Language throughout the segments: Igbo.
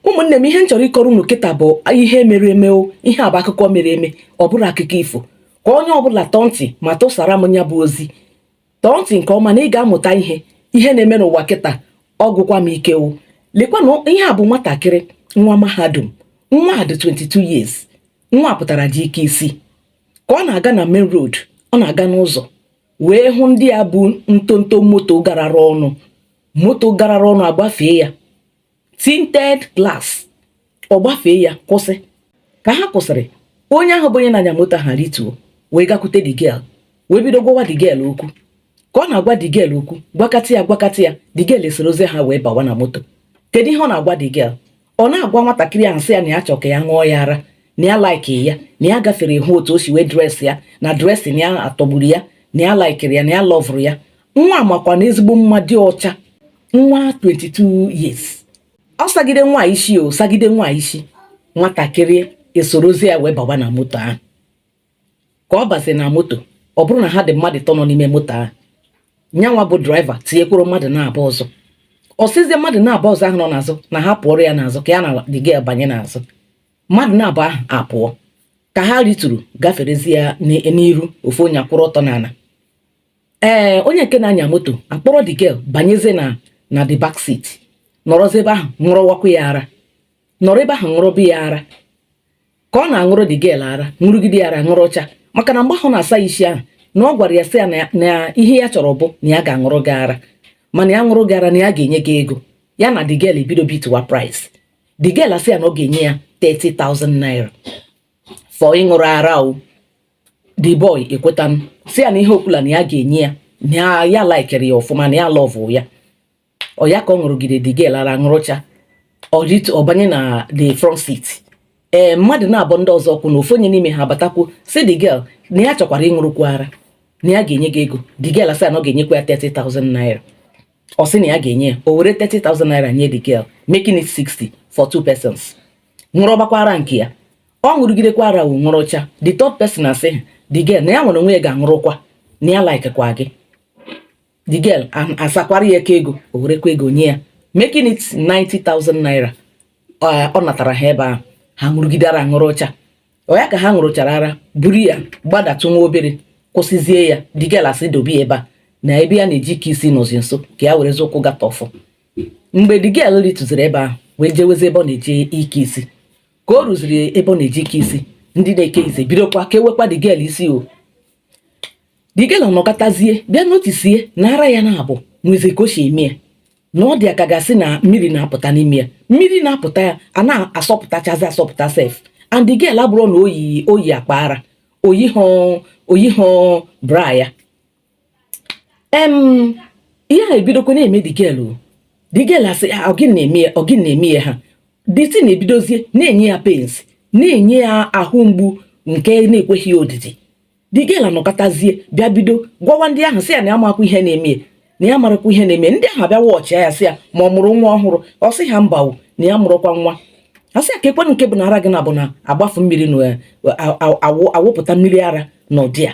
ụmụnne m ihe m chọrọ ịkọrọ unu kịta bụ ihe mere eme o ihe a bụ akụkọ mere eme ọ bụrọ akụkọ ifo ka onye ọbụla tọọ ntị ma tụsara m ya bụ ozi tọọ ntị nke ọma na ị ga-amụta ihe ihe na-eme n'ụwa kịta ọ gwụkwa m ike o lekwa na ihe a bụ nwatakịrị nwa mahadum nwa a dị 22 years nwa a pụtara jee ike isi ka ọ na-aga na main road ọ na-aga n'ụzọ wee hụ ndị a bu ntonto moto garara ọnụ moto garara ọnụ agbafee ya tinted glass ọ gbafee ya kwụsị ka ha kwụsịrị onye ahụ bụ onye na-anya moto ha rituo wee gakwute the girl wee bido gwawa the girl okwu ka ọ na-agwa the girl okwu gwakata ya gwakata ya the girl esorozie ha wee bawa na moto kedu ihe ọ na-agwa the girl ọ na-agwa nwatakịrị ahụ sị ya na ya chọ ka ya ṅụọ ya ara na ya laikiri ya na ya gafere hụ otu o si wee dresị ya na dressing ya atọgburu ya na ya laikiri ya na ya lọvụrụ ya nwa makwa na ezigbo mma dị ọcha nwa 22 years ọ sagide nwa isi ọ sagide nwa isi nwatakịrị esorozie ya wee bawa na moto ahụ ka ọ bazi na moto ọ bụrụ na ha dị mmadụ tọ nọ n'ime moto ahụ nyanwa bụ driver tinyekwuru mmadụ naabọ ọzọ ọ sịzie mmadụ naabọ ọzọ ahụ nọ n'azụ na ha pụọrọ ya n'azụ ka ya na the girl banye n'azụ mmadụ naabọ ahụ apụọ ka ha rituru gaferezie n'iru ofu onye akwụrụ ọtọ n'ala ee eh, onye nke na-anya moto akpọrọ the girl banyezie na the back seat nọrọzi ebe ahụ ṅụrụwakwa ya ara nọrọ ebe ahụ ṅụrụba ya ara ka ọ na-aṅụrụ the girl ara ṅụrụgide ya ara ṅụrụcha maka na mgbe ahụ na-asa isi ahụ na ọ gwara ya sị ya na ihe ya chọrọ bụ na ya ga-aṅụrụ gị ara mana ya ṅụrụ gị ara na ya ga-enye gị ego ya na the girl ebido bituwa price the girl asị ya na ọ ga-enye ya 30,000 naira for ịṅụrụ ara o the boy ekwetanụ sị ya na ihe ọbụla na ya ga-enye ya na ya laikere ya ọfụma na ya lọvụ ya ọ ya ka ọ ṅụrụgide the girl ara ṅụrụcha ọ banye na the front seat ee eh, mmadụ naabọ ndị ọzọ kwụ na ofu onye n'ime ha abatakwu sị the girl na ya chọkwara ịṅụrụkwu ara na ya ga-enye gị ego the girl asị na ọ ga-enyekwa ya 30,000 naira ọ sị na ya ga-enye ya o were 30,000 naira nye the girl making it 60 for two persons ṅụrụbakwa ara nke ya ọ ṅụrụgidekwa ara ahụ ṅụrụcha the third person asị the girl na ya nwere onwe ya ga-aṅụrụkwa na ya laikekwa gị the girl asakwara ya aka ego o werekwa ego nye ya making it 90,000 naira ọ natara ha ebe ahụ ha ṅụrụgide ara ṅụrụcha ọ ya ka ha ṅụrụchara ara buru ya gbadatụ nwa obere kwụsịzie ya the girl asị dobe ya ebe a na ebe ya na-eje ike isi nọzi nso ka ya werezi ụkwụ gata ọfụ mgbe the girl ritụziri ebe ahụ wee jewezi ebe ọ na-eje ike isi ka o ruziri ebe ọ na-eje ike isi ndị na-eke isi ebidokwa kewekwa the girl isi o the girl anọkatazie bịa notisie na ara ya naabọ nwezi ka o si eme ya na ọ dị ya ka a ga-asị na mmiri na-apụta n'ime ya mmiri na-apụta ya a na-asọpụtachazi asọpụta sef and the girl abụrụ na o yi o yi akpa ara o yihụ o yihụ bra ya em ihe a ebidokwa na-eme the girl o the girl asị "Ah, ọ gịnị na-eme ya ọ gịnị na-eme ya ihe a the thing ebidozie na-enye ya pains na-enye ya ahụ mgbu nke na-ekweghị ya odidi the girl anọkatazie bịa bido gwawa ndị ahụ sị ya na ya amakwa ihe na-eme ya na ya amarọkwa ihe na-eme ndị ahụ abịa jụọchaa ya sị ya ma ọ mụrụ nwa ọhụrụ ọ sị ha mba o na ya amụrọkwa nwa a sị ya keekwanụ nke bụ na ara gị naabọ na-agbafu mmiri na eh, a- a- awụ- awụpụta mmiri ara n'ụdị a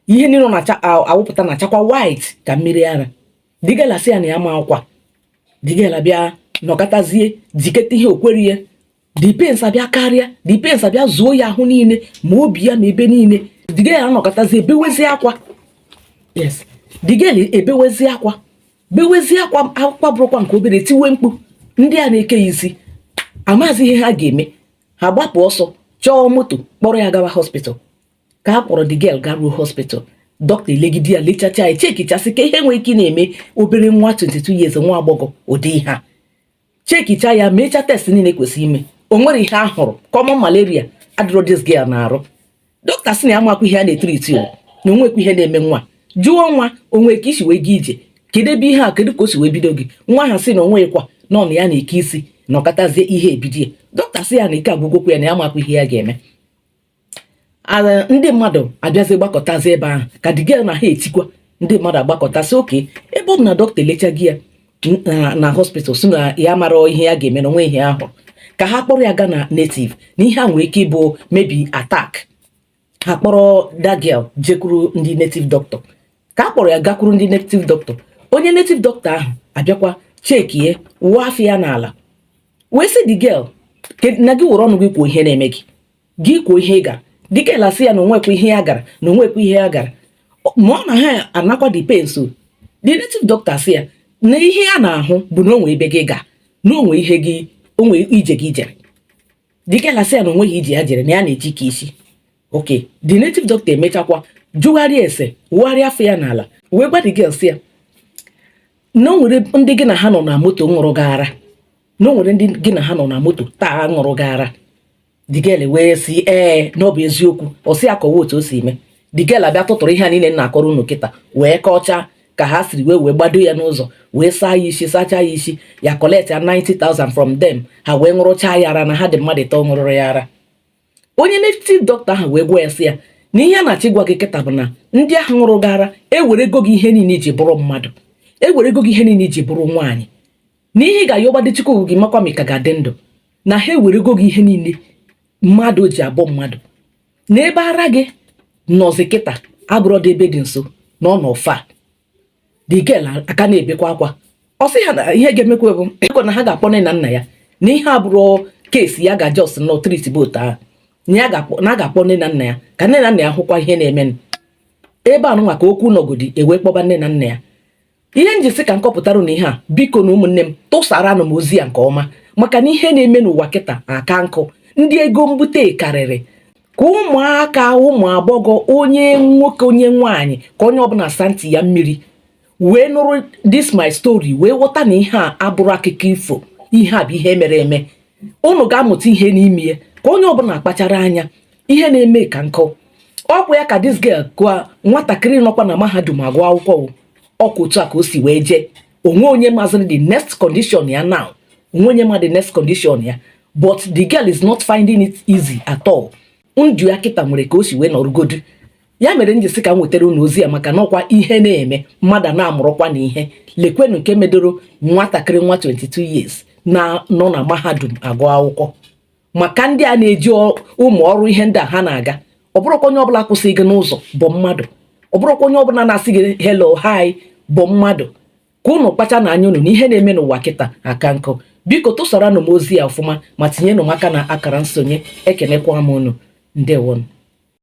ihe niile na-awụpụta na-achakwa white ka mmiri ara the girl asị ya na ya amakwa the girl abịa nọkatazie jiketa ihe o kwerọ ya the pains abịa karịa the pains abịa zuo ya ahụ niile ma obi ya ma ebe niile the girl anọkatazie bewezie akwa yes the girl ebewezie akwa bewezie akwa akwa abụrọkwa nke obere tiwe mkpu ndị a na-eke ya isi amazi ihe ha ga-eme ha gbapụ ọsọ chọọ moto kpọrọ ya gawa hospital ka a kpọrọ the girl garuo hospital dọkịta elegide ya lechacha ya chekichasịkwa ihe nwere ike na-eme obere nwa 22 years nwa agbọghọ ụdị ihe a chekicha ya mecha test niile kwesịrị ime o nwerọ ihe a hụrụ common malaria adịrọ this girl n'arụ dọkịta sị na ya amakwa ihe a na-etriti o na o nwekwa ihe na-eme nwa a jụọ nwa a o nwe ka i si wee gị ije kedu ebe ihe a kedu ka o si wee bido gị nwa ahụ sị na o nwekwa na ọ na ya na-eke isi nọkatazie ihe a ebido ya dọkịta sị ya na ike agwụgokwa ya na ya amakwa ihe ya ga-eme ala ndị mmadụ abịazi gbakọtazi ebe ahụ ka the girl na ha etikwa ndị mmadụ agbakọtasị okay ebe ọ bụ na dọkịta elechago ya na hospital sị na ya amarọ ihe ya ga-eme na o nwe ihe a hụ ka ha kpọrọ ya gaa na native na ihe a nwere ike ịbụ maybe attack ha kpọrọ the girl jekwuru ndị native doctor ka a kpọrọ ya gakwuru ndị native doctor onye native doctor ahụ abịakwa chekie wụọ afa ya n'ala wee sị the girl na gị were ọnụ gị kwuo ihe na-eme gị gị kwuo ihe ị gara the girl asị ya na o nwekwa ihe ya gara na o nwekwa ihe ya gara ma ọ na ha anakwa the pains o the native doctor sị ya na ihe ya na-ahụ bụ na o nwe ebe gị ga na o nwe ihe gị o nwe ije gị jere the girl asị ya na o nweghị ije ya jere na ya na-eje ike isi okay the native doctor emechakwa jụgharịa ese wụgharịa afa ya n'ala wee gwa the girl sị ya na o nwere ndị gị na ha nọ na moto ṅụrụ gị ara na o nwere ndị gị na ha nọ na moto taa ṅụrụ gị ara the girl wee sị ee na ọ bụ eziokwu ọ sị ya kọwa otu o si eme the girl abịa tụtụrụ ihe a niile na-akọrọ unu kịta wee kọchaa ka ha siri wee wee gbado ya n'ụzọ wee saa ya isi sachaa ya isi ya collect ya 90,000 from them ha wee ṅụrụchaa ya ara na ha dị mmadụ ịtọ ṅụrụrụ ya ara onye native doctor ahụ wee gwa ya sị ya na ihe ya na-achọ ịgwa gị kịta bụ na ndị ahụ ṅụrụ gị ara ewerego gị ihe niile i ji bụrụ mmadụ ewerego gị ihe niile i ji bụrụ nwaanyị na ihe ị ga-ayọbadị Chukwu gị makwa ma ị ka ga-adị ndụ na ha ewerego gị ihe niile mmadụ ji abụ mmadụ na ebe ara gị nọzi kịta abụrọdị ebe dị nso na ọ nọ far the girl aka na-ebekwa akwa ọ sị ha na ihe ga-emekwa biko na ha ga-akpọ nne na nna ya na ihe a abụrọ case ya ga just na treat but ahụ na ya ga-akpọ nne na nna ya ka nne na nna ya hụkwa ihe na-emenụ ebe a nụnwa ka okwu nọgodi e wee kpọba nne na nna ya ihe m ji sị ka m kọpụtara unu ihe a bikonụ ụmụnne m tụsaranụ m ozi a nke ọma maka na ihe na-eme n'ụwa kịtaa ka nkụ ndị ego mbute karịrị ka ụmụaka ụmụ agbọghọ onye nwoke onye nwaanyị ka onye ọbụla saa ntị ya mmiri wee nụrụ this my story wee ghọta na ihe a abụrọ akụkọ ifo ihe a bụ ihe mere eme unu ga-amụta ihe n'ime ya ka onye ọbụla kpachara anya ihe na-eme ka nkụ ọkwa ya ka this girl gụa nwatakịrị nọkwa na mahadum agụ akwụkwọ o. ọkwa otu a ka o si wee jee o nwe onye mazịrị the next condition ya now o nwe onye ma the next condition ya but the girl is not finding it easy at all ndụ ya kịta nwere ka o si wee nọrụgodu ya mere m ji sị ka m wetara unu ozi a maka na ọkwa ihe na-eme mmadụ na-amụrụkwa na ihe lekwenu nke medoro nwatakịrị nwa 22 years nọ na mahadum agụ akwụkwọ maka ndị a na-eji ụmụ ọrụ ihe ndị a ha na-aga ọ bụrọkwa onye ọbụla kwụsị gị n'ụzọ bụ mmadụ ọ bụrọkwa onye ọbụla na-asị gị hello hi bụ mmadụ ka unu kpachanụ anya unu na ihe na-eme n'ụwa kịtaa ka nkụ biko tụsaranụ m ozi a ọfụma ma tinyenụ m aka n'akara nsonye ekenekwa m unu ndewonụ